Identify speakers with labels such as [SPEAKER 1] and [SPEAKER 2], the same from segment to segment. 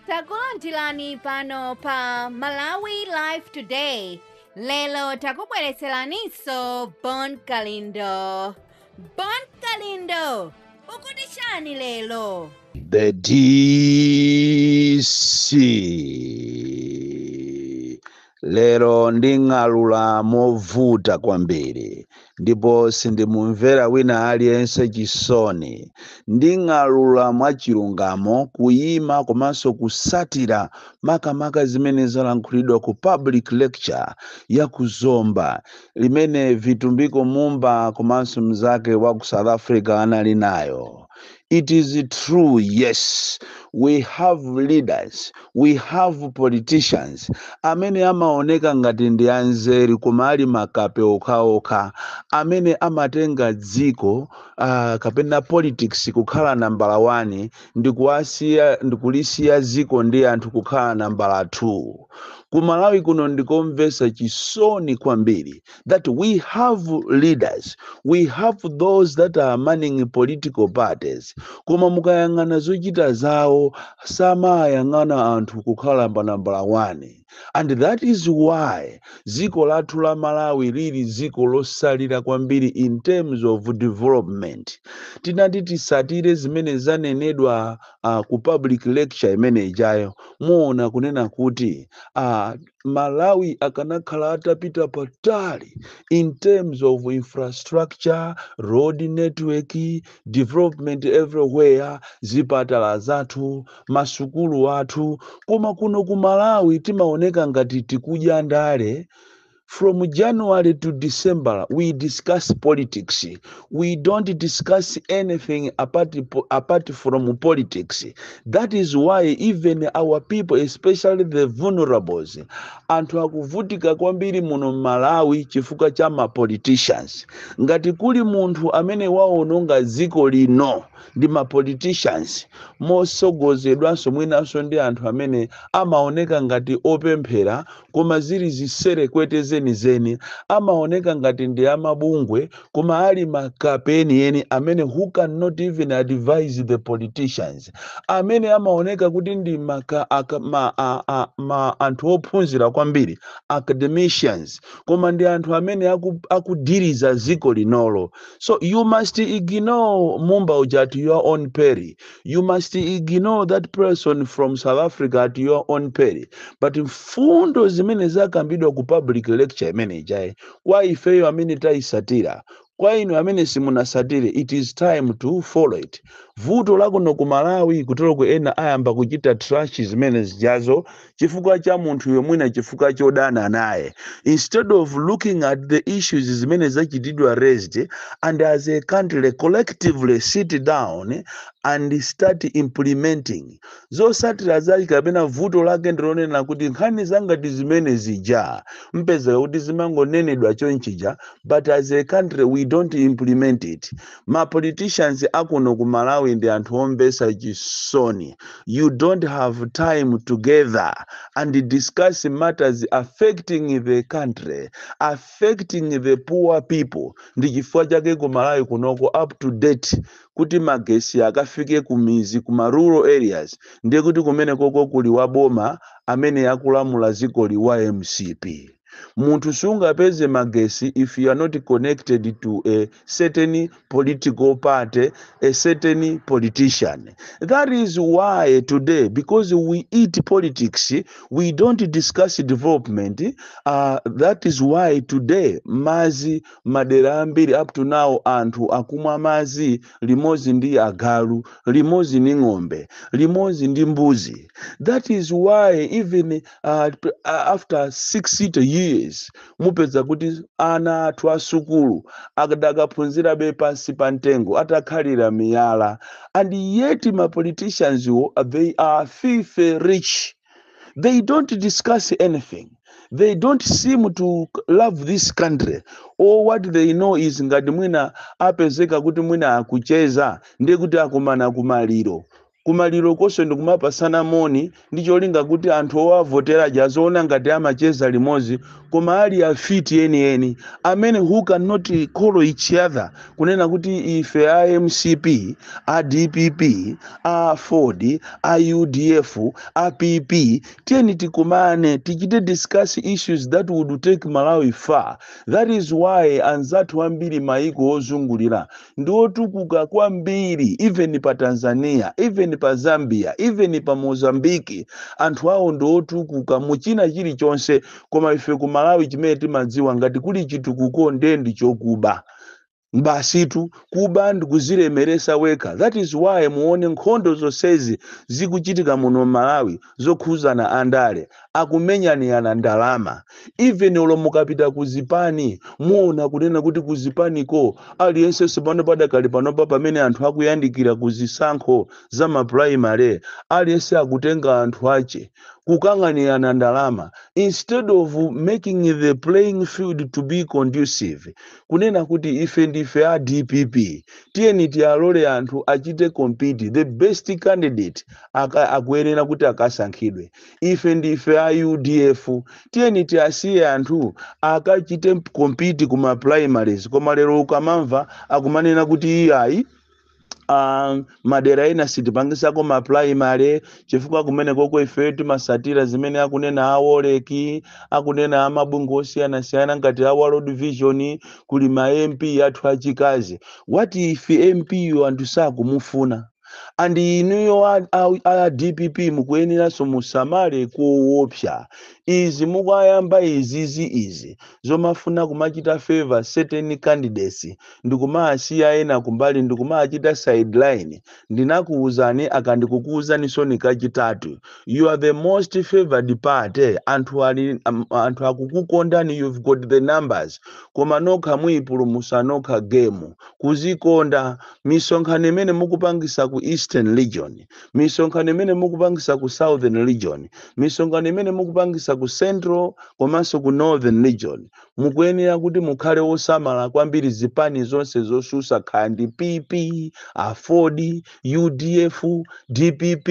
[SPEAKER 1] takulandirani pano pa malawi live today lero takubweretseraninso bon kalindo bon kalindo ukuti chani lero
[SPEAKER 2] The DC. Lero nding'alula movuta kwambiri ndipo sindimumvera wina aliyense chisoni. Nding'alula mwachilungamo kuyima komanso kusatira makamaka zimene zalankhulidwa ku public lecture ya ku Zomba imene Vitumbiko Mumba komanso mnzake wa ku South Africa anali nayo. It is true, yes. We have leaders, we have politicians amene amaoneka ngati ndi anzeru koma ali makape okhaokha amene amatenga dziko uh, kapena politics kukhala nambala 1 ndi kuwasiya ndi kulisiya dziko ndi anthu kukhala nambala 2. Ku Malawi kuno ndikomvesa chisoni kwambiri. that we have leaders we have those that are manning political parties koma mukayang'ana zochita zawo samayang'ana anthu kukhala pa nambala 1 and that is why dziko lathu la malawi lili dziko losalira kwambiri in terms of development tinati tisatire zimene zanenedwa uh, ku public lecture imene ijayo muona kunena kuti uh, malawi akanakhala atapita patali in terms of infrastructure road network development everywhere zipatala zathu masukulu athu koma kuno ku malawi timaoneka ngati tikudya ndale from january to december we discuss politics we don't discuss anything apart, po- apart from politics that is why even our people especially the vulnerables anthu akuvutika kwambiri muno mmalawi chifukwa cha ma politicians ngati kuli munthu amene waononga dziko lino ndi ma politicians mosogozedwanso mwinanso ndi anthu amene amaoneka ngati opemphera koma zili ziserekwete zenizeni amaoneka ngati ndi amabungwe koma ali makape enieni amene who cannot even advise the politicians amene amaoneka kuti ndi maka, aka, ma, a, a, ma anthu ophunzira kwambiri academicians koma ndi anthu amene aku- akudiriza dziko linolo so you must ignore mumba uja at your own peril you must ignore that person from south africa at your own peril but mfundo zimene zakambidwa ku public lecture imene ijayo kwa ifeyo amene tayisatira kwa inu amene simunasatire it is time to follow it vuto lakuno ku malawi kuteroku ena ayamba kuchita trash zimene zijazo chifukwa cha munthuyo mwina chifukwa chodana naye instead of looking at the issues zimene zachitidwa raised and as a country collectively sit down and start implementing zosatira zake kapena vuto lake ndilonena kuti nkhani zangati zimene zija mupeza kuti zimangonenedwa chonchija but as a country we don't implement it ma politicians akuno ku malawi ndi anthu omvesa chisoni you don't have time to gather and discuss matters affecting the country affecting the poor people ndi chifukwa chake ku malawi kunoko up to date kuti magesi akafike kumizi ku ma rural areas ndiye kuti kumene koko kuli waboma amene akulamula dziko ali wa mcp munthu sungapeze magesi if you are not connected to a certain political party a certain politician that is why today because we eat politics we don't discuss development uh, that is why today mazi madera ambiri up to now anthu akumwa mazi limozi ndi agalu limozi ndi ng'ombe limozi ndi mbuzi that is why even ah, p- ah, after 60 years mupeza kuti ana athu asukulu akadakaphunzirabe pansi pa mtengo atakhalira miyala and yet ma politicians wo they are filthy rich they don't discuss anything they don't seem to love this country all what they know is ngati mwina apezeka kuti mwina akucheza ndiye kuti akumana kumaliro kumaliro konse ndikumapasana moni ndi cholinga kuti anthu owavotera aja aziwona ngati amacheza limodzi koma ali afiti enieni amene who cannot call each other kunena kuti ife a mcp a dpp aford a udf a pp tiyeni tikumane tichite discuss issues that would take malawi far that is why anzathu ambiri maiko ozungulira ndi otukuka kwambiri even pa tanzania even pa zambia even pa mozambique anthu awo ndi otukuka mu china chilichonse koma ife ku malawi chimene timadziwa ngati kuli chitukuko nde ndi chokuba basitu kuba ndikuzilemeresa wekha that is why muone nkhondo zonsezi zikuchitika muno m'malawi zokhuzana andale akumenyanirana ndalama even olo mukapita ku zipani muona kunena kuti ku zipaniko aliyensenso pano padakali panopa pamene anthu akuyandikira ku zisankho za maprimary aliyense akutenga anthu ache kukanganirana ndalama instead of making the playing field to be conducive kunena kuti ife ndife a dpp tiyeni tiwalole anthu achite compete the best candidate aka, akuyenera kuti akasankhidwe ife ndife a udf tiyeni tiwasiye anthu akachite compete ku ma primaries koma lero ukamamva akumanena kuti iyayi Ah, madera ena sitipangisako ma primary chifukwa kumenekoko ife timasatira zimene akunena a woleki akunena amabungwe osiyanasiyana ngati a world vision kuli ma mp athu achikazi what if mp yo anthu sakumufuna and inuyo a, a, a dpp mukuyeneranso musamale koopsa izi mukayamba izizi izi zomafuna kumachita favor certain candidates ndikumawasiya ena kumbali ndikumawachita sideline ndinakuuzani aka ndikukuuzaninsoni kachitatu you are the most favored party anthu ali am- anthu akukukondani you've got the numbers koma nokha muyipulumusa nokha gemu kuzikonda misonkhano imene mukupangisa ku eastern region misonkhano imene mukupangisa ku southern region misonkhano imene mukupangisa ku central komanso ku northern region mukuyenera kuti mukhale osamala kwambiri zipani zonse zosusa kaya ndi pp aford udf dpp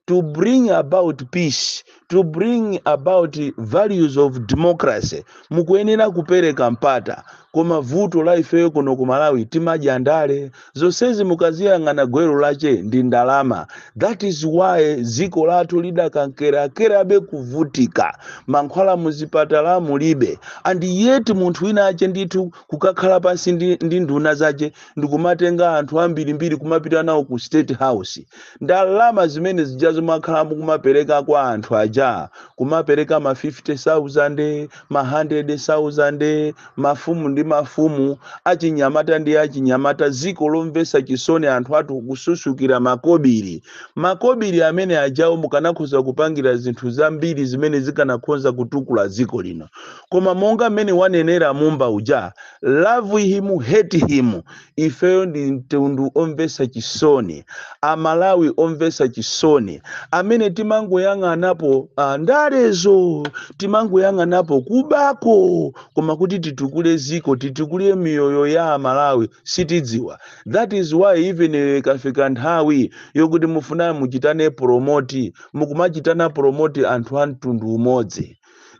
[SPEAKER 2] to bring about peace to bring about values of democracy mukuyenera kupereka mpata koma vuto la ifeyo kuno ku malawi timadya ndale Zonsezi mukaziyang'ana gwero lache ndi ndalama that is why dziko lathu lidakamkeramkerabe kuvutika mankhwala muzipatala mulibe and yet munthu winawake ndithu kukakhala pansi ndi, ndi nduna zache ndikumatenga anthu ambirimbiri kumapita nawo ku state house ndalama zimene zijazo mwakhala mukumapereka kwa anthu aja kumapereka ma 50000 ma 100000 mafumu ndi mafumu achinyamata ndi achinyamata ziko lomvesa chisoni anthu athu kususukira makobili makobili amene ajawo mukanakhoza kupangira zinthu zambiri zimene zikanakhonza kutukula ziko lino koma monga mmene wanenera mumba uja love him hate him ifeyo ndi mtundu omvetsa chisoni amalawi omvetsa chisoni amene timangoyang'anapo ah, ndalezo timangoyang'anapo kubako koma kuti titukule ziko titukule miyoyo ya amalawi sitidziwa that is why even eh, ikafika nthawi yokuti mufuna muchitane promoti mukumachitana promoti anthu a mtundu umodzi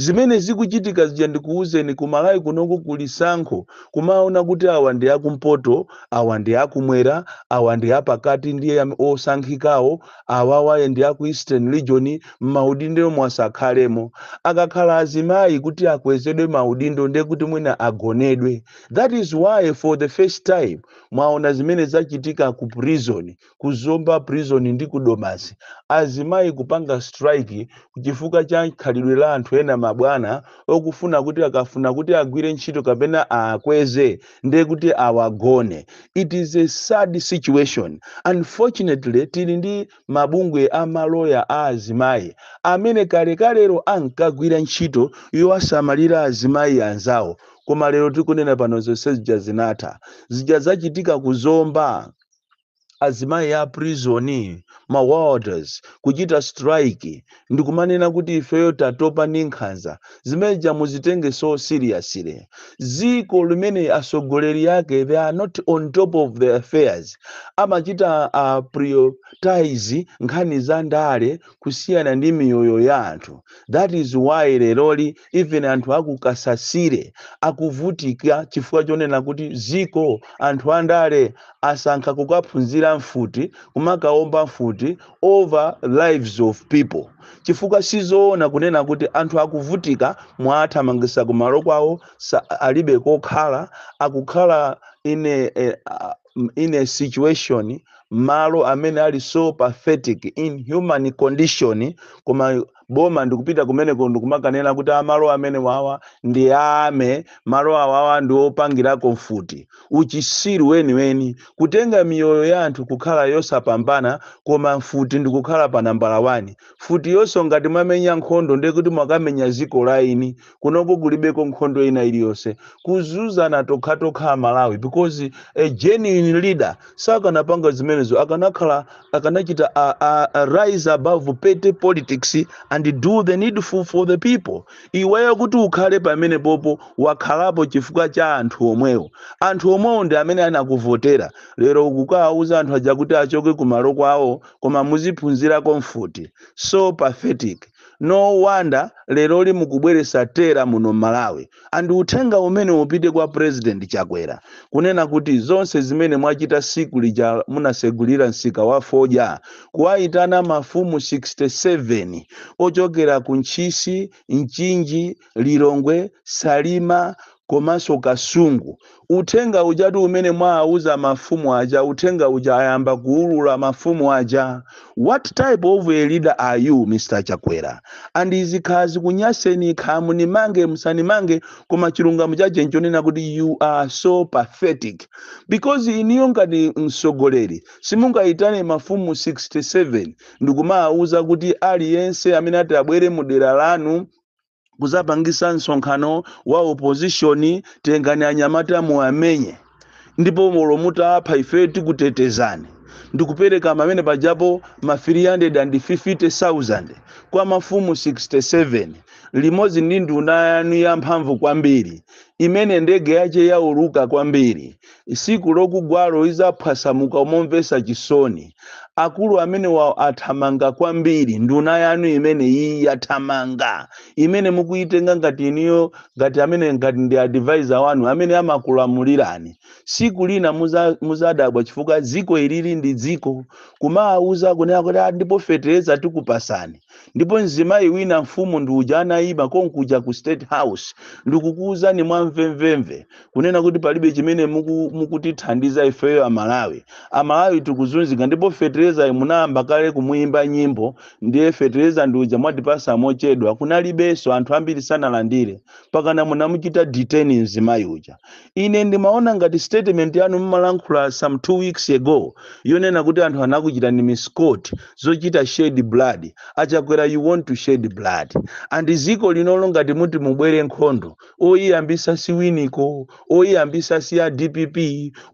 [SPEAKER 2] Zimene zikuchitika zija ndikuuzeni ku Malawi kunoko kuli sankho kumaona kuti awa ndi akumpoto awa ndi akumwera awa ndi apakati ndiye am- osankhikawo awawa ndi aku Eastern Region m'maudindomo asakhalemo. Akakhala azimayi kuti akwezedwe maudindo ndiye kuti mwina agonedwe. That is why for the first time mwaona zimene zachitika ku prison ku zomba prison ndi ku domasi azimayi kupanga strike chifukwa cha khalidwe la anthu ena mabwana okufuna kuti akafuna kuti agwire ntchito kapena awakweze ndiye kuti awagone it is a sad situation unfortunately tili ndi mabungwe a maloya a azimayi amene kalekalero ankagwira ntchito yowasamalira azimayi anzawo koma lero tikunena pano zonse zija zinatha zija zachitika kuzomba azimayi a prison ma warders kuchita strike ndikumanena kuti ifeyo tatopa ndi nkhanza zimene zija muzitenge so seriously ziko limene atsogoleri ake they are not on top of the affairs amachita uh, prioritize nkhani za ndale kusiyana ndi miyoyo ya anthu that is why leroli even anthu aku kasasire akuvutika chifukwa chonena kuti ziko anthu andale asankha kukaphunzira mfuti kumakaomba mfuti over lives of people chifukwa sizoona kunena kuti anthu akuvutika mwawathamangisa kumalo kwawo sa- alibe kokhala akukhala in a, a, m- in a situation malo amene ali so pathetic inhuman condition koma boma ndikupita kumeneko ndikumakanena kuti amalo amene wawa ndi ame malo awawa ndi opangirako mfuti uchisiru weniweni kutenga miyoyo ya anthu kukhala yosapambana koma mfuti ndikukhala pa nambala 1 mfutiyonso ngati mwamenya nkhondo ndiye kuti mwakamenya ziko la eni kunoko kulibeko nkhondo ina iliyonse kuzuzana tokhatokha amalawi because a genuine leader sakanapanga zimenezo akanakhala akanachita a, a, a rise above petty politics and do the needful for the people iweyo kuti ukhale pamene popo wakhalapo chifukwa cha anthu omwewo anthu omwewo ndi amene anakuvotera lero ukukawauza anthu aja kuti achoke kumalo kwawo koma muziphunzirako mfuti so pathetic no wonder leroli mukubweresa terror muno Malawi and uthenga umene upite kwa president chakwera kunena kuti zonse zimene mwachita siku lija munasegulira msika wa fodya kuwaitana mafumu 67 ochokera ku ntchisi mchinji Lilongwe, Salima komanso Kasungu. Uthenga ujatu umene mwaauza mafumu aja, uthenga uja ayamba kuulula mafumu aja. What type of a leader are you Mr Chakwera? And izi kaya zikunyaseni kaya munimange musanimange koma chilungamo chache nchonena kuti you are so pathetic because iniyo ngati mtsogoleri simungayitane mafumu 67 ndikumaauza kuti aliyense amene ati abwere mu dera lanu kuzapangisa msonkhano wa opposition tengani anyamata muwamenye ndipo olo mutaapha ife tikutetezani ndikupereka pamene pajapo ma 350,000 kwa mafumu 67 limodzi ndi nduna yanu yamphamvu kwambiri imene ndege yache yauluka kwambiri Siku lokugwalo izaphwasamuka momvesa chisoni. Akulu amenewa athamanga kwambiri nduna yanu imeneyi yathamanga imene mukuyitenga ngati iniyo ngati amene ngati ndi advisor wanu amene amakulamulirani. Siku lina muzadabwa chifukwa dziko ilili ndi dziko kumawauza kunena kuti ah ndipo fetereza tikupasani ndipo mzimayi wina mfumu ndi uja anayima konkuja ku state house ndikukuuzani mwamvemvemve kunena kuti palibe chimene muku- mukutithandiza ifeyo amalawi amalawi tikuzunzika ndipo feterezayo munayamba kale kumuyimba nyimbo ndiye fetereza ndi uja mwatipasa mochedwa kunalibenso anthu ambiri sanalandire pakana munamuchita detain mzimayi uja ine ndimaona ngati statement yanu mmalankhula some two weeks ago yonena kuti anthu anakuchitani misquote zochita shed blood achakwera you want to shed blood and ziko linolo ngati muti mubwere nkhondo oyiyambisa si winiko oyiyambisa si a dpp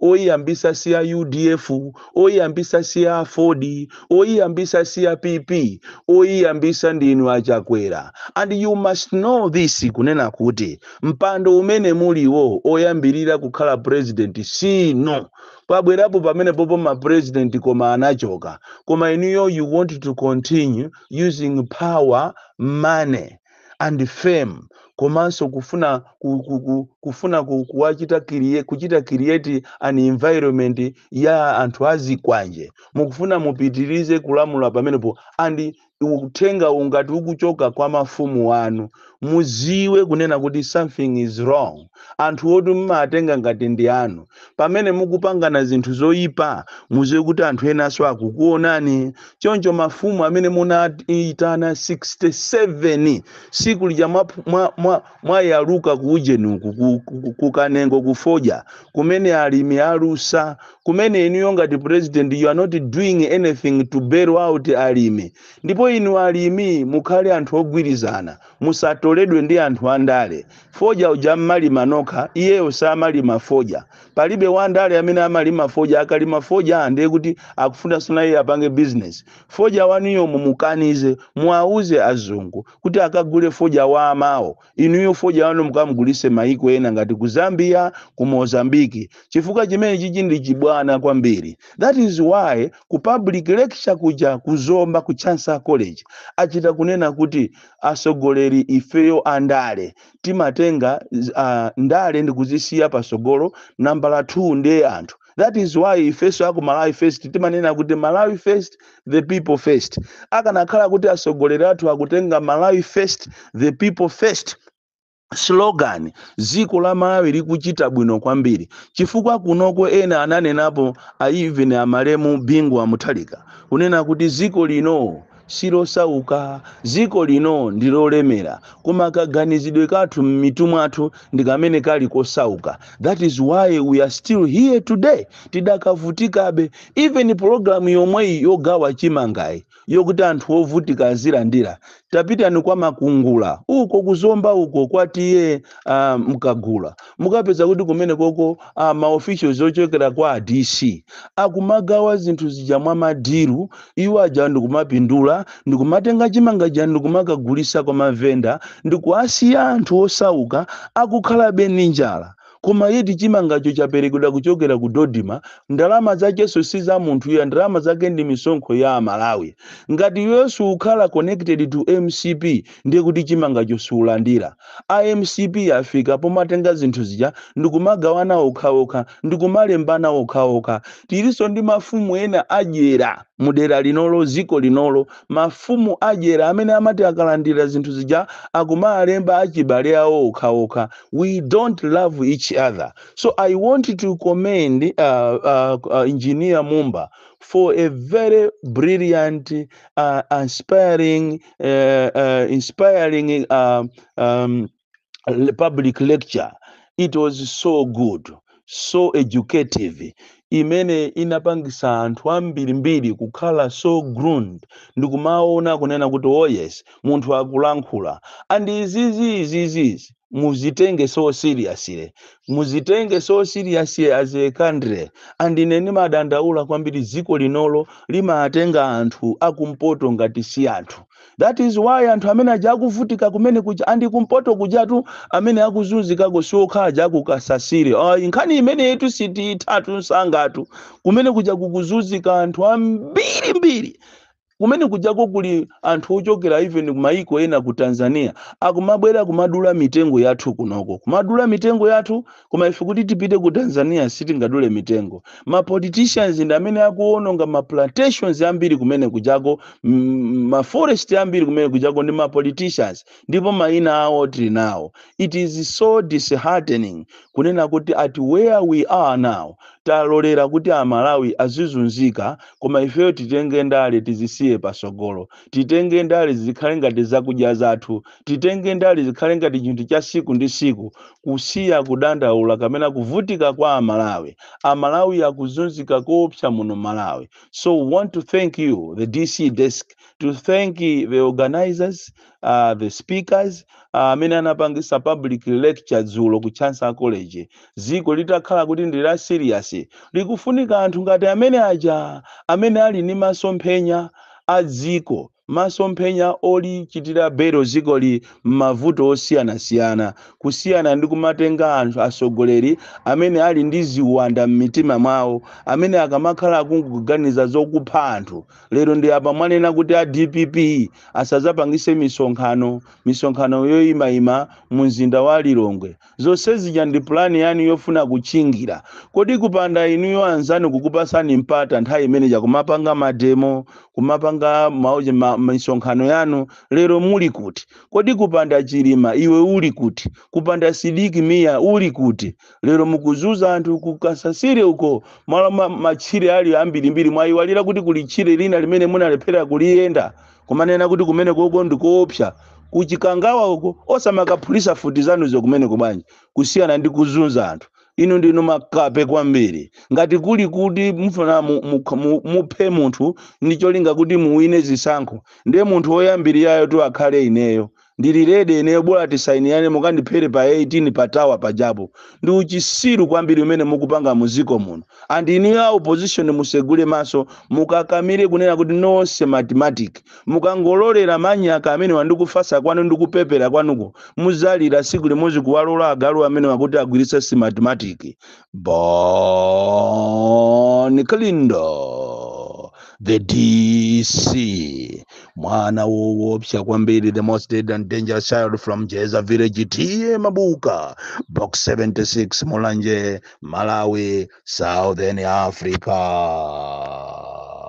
[SPEAKER 2] oyiyambisa si a udf oyiyambisa si a aford oyiyambisa si a pp oyiyambisa ndinu achakwera and you must know this kunena kuti mpando umene muliwo oyambirira kukhala president sinu pabwerapo pamenepopo ma president koma anachoka koma inuyo you want to continue using power money and fame komanso kufuna ku, ku, ku, kufuna ku, kuwachita crea, kuchita create an environment ya anthu azikwanje mukufuna mupitirize kulamula pamenepo and uthenga ungati ukuchoka kwa mafumu anu muziwe kunena kuti something is wrong anthu oti mumawatenga ngati ndi anu Pamene mukupangana zinthu zoipa, muziwe kuti anthu enaso akukuonani. Choncho mafumu amene munaitana 67 siku lija mwayaluka mwa, mwa, mwa ku ujeni uku ku, ku, ku kanengo ku fodya kumene alimi alusa kumene inuyo ngati president you are not doing anything to bail out alimi ndipo inu alimi mukhale anthu ogwirizana musatoledwe ndi anthu andale Fodya uja mmalima nokha, iyeyo samalima fodya. Palibe wandale amene amalima fodya, akalima fodya ndiye kuti akufunanso naye apange business. Fodya wanuyo mumukanize, muwauze azungu kuti akagule fodya wa amawo, inuyo fodya wanu mukamugulitse maiko ena ngati ku Zambia, ku Mozambique chifukwa chimenechichi ndi chibwana kwambiri. That is why ku public lecture kuja ku Zomba ku Chancellor College achita kunena kuti, asogoleri ifeyo andale timatenga uh, ndale ndikuzisiya pasogolo nambala 2 ndiye anthu that is why ifeso aku malawi first timanena kuti malawi first the people first akanakhala kuti asogoleri athu akutenga malawi first the people first slogan dziko la malawi likuchita bwino kwambiri chifukwa kunoko ena ananenapo a even amalemu bingu wa mutharika kunena kuti dziko lino silosauka dziko lino ndi lolemera koma kaganizidwe kathu m'mitu mwathu ndi kamene kali kosauka that is why we are still here today tidakavutikabe even pologalamu yomweyi yogawa chimangayi yokuti anthu ovutika azilandira tapitani kwa makungula uko kuzomba uko kwa ta uh, nkagula mukapeza kuti kumenekoko uh, maofficials ochokera kwa a dc akumagawa zinthu zija mwa madilu iwo aja ndikumapindula ndikumatenga chimanga chija ndikumakagulisa kwa mavenda ndikuasiya anthu osauka akukhalabe ndi njala koma yet chimangacho chaperekedwa kuchokera ku dodma ndalama zachenso si za munthu ya ndalama zake ndi misonkho ya amalawi ngati iweyo siukhala connected to mcp ndiye kuti chimangacho siulandira a mcp afika pomatenga zinthu zija ndikumagawana okhaokha ndikumalembana okhaokha tilinso ndi mafumu ena adyera mudera linolo ziko linolo mafumu adyera amene amati akalandira zinthu zija akumalemba achibale awo okhaokha we don't love each other so i want to commend uh, uh, uh, engineer mumba for a very brilliant uh, inspiring uh, uh, inspiring uh, um, le- public lecture it was so good so educative imene inapangisa anthu ambirimbiri kukhala so groomed ndikumaona kunena kuti oh yes munthu akulankhula and izizi izizizi muzitenge so seriously muzitenge so seriously as a country and ine ndimadandaula kwambiri dziko linolo limatenga anthu akumpoto ngati si anthu that is why anthu amene aja akuvutika kumene kuja and kumpoto kujatu amene akuzunzikako siokha aja akukasasire ayi nkhani imeneyitu sitiyithatu nsangatu kumene kuja kukuzunzika anthu ambirimbiri kumene kujako kuli anthu ochokera even kumayiko ena ku tanzania akumabwera kumadula mitengo yathu kunoko kumadula mitengo yathu koma ife kuti tipite ku tanzania sitingadule mitengo ma politicians ndi amene akuononga ma plantations ambiri kumene kujako mm, ma forest ambiri kumene kujako ndi ma politicians ndipo mayina awo tili nawo it is so disheartening kunena kuti at where we are now talolera kuti amalawi azizunzika koma ifeyo titenge ndale tizisiye pasogolo titenge ndale zikhale ngati zakudya zathu titenge ndale zikhale ngati chinthu cha siku ndi siku kusiya kudandaula kamena kuvutika kwa amalawi amalawi akuzunzika koopsa muno malawi so we want to thank you at the dc desk to thank the organizers uh, the speakers ah, amene uh, anapangisa public lecture dzulo ku chancellor college ziko litakhala kuti ndi la serious likufunika anthu ngati amene aja amene ali ni masomphenya a dziko Masomphenya olichotsera belo dzikoli m'mavuto osiyanasiyana, kusiyana ndi kumatenga anthu atsogoleri amene ali ndi ziwanda m'mitima mwawo, amene akamakhala akungoganiza zokupha anthu, lero ndi apa mwanena kuti a dpp asadzapangitse misonkhano, misonkhano yoimaima mu mzinda wa Lilongwe. Zonse zija ndi plan yanu yofuna kutchingira. Kodi kupanda inuyo anzanu kukupasani mpata nthawi imene ija kumapanga mademo, kumapanga mauje ma, misonkhano yanu, lero muli kuti? Kodi kupanda Chilima iwe uli kuti? Kupanda Sidiki Mia uli kuti? Lero mukuzuza anthu ku Kasasire uko malo ma, matchire ali ambirimbiri mwayiwalira kuti kuli tchire lina limene munalephera kuliyenda. kumanena kuti kumeneko uko ndikoopsa kuchikangawa uko osamakaphulisa futi zanuzo kumeneko bwanji kusiyana ndi kuzunza anthu inu ndinu makape kwambiri ngati kuli kuti mufuna mu- mu- mu- muphe munthu ndi cholinga kuti muwine zisankho ndiye munthu woyambirirayotu akhale ineyo Ndili ready ineyo bola tisainirane mukandiphere pa 18 pa tower pajapo. Ndi uchisiru kwambiri umene mukupanga mu dziko muno. And inuyo a opposition musegule maso mukakamire kunena kuti no Smartmatic. Mukangolorera manyaka amenewa ndi kufasa kwanu ndi kupepera kwanuko mudzalira tsiku limodzi kuwalola agalu amenewa kuti agwiritse Smartmatic. Bon Kalindo, the DC, mwana woopsa kwambiri, the most dead and dangerous child from Jeza village, T.A. Mabuka, box 76, Mulanje, Malawi, Southern Africa.